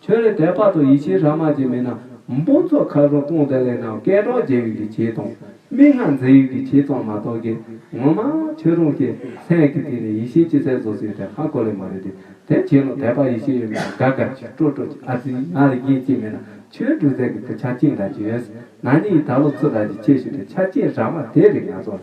ཁྱོད་ལས་དད་པ་དང་ཡིད་ཆེས་ར་མ་ཅན་མེད་ན་འབུམ་ཚོ་ཁ་རུང་སྟོང་དེ་ལས་ནང་སྐད་གྲགས་རྒྱས་ཡོད་ཀྱི་བྱེད་དང་མིག་སྔར་མཛེས་ཡོད་ཀྱི་བྱེད་ཙམ་མ་གཏོགས་ཀྱི་ངོ་མ་ཁྱོད་རང་གི་སེམས་ཀྱི་སྟེང་ནས་ཡིད་ཆེས་ཅི་གསལ་བཟོ་སྲིད་དེ་ཧ་གོ་ལེ་མ་རེད་དེ་དེ་བྱས་ན་དད་པ་ཡིད་ཆེས་ཡོད་མེད་ལ་དགའ་དགའ་ཅིག་སྤྲོ་སྤྲོ་ཅིག་ཨ་ཙི་ང་རེ་རྒན་ཅིག་མེད་ན་ཁྱོད་འབྲུག་རྫས་ཀྱི་དུ་ཆ་གཅིག་འདྲ་གཅིག་ཡོད་ཟེར་ན་ནི་ཡི་ད་ལོ་ཚུར་ར་གཅིག་ཆད་ཞུ་དེ་ཆ་གཅིག་ར་མ་དེ་རེད་ང་ཚོ་ལ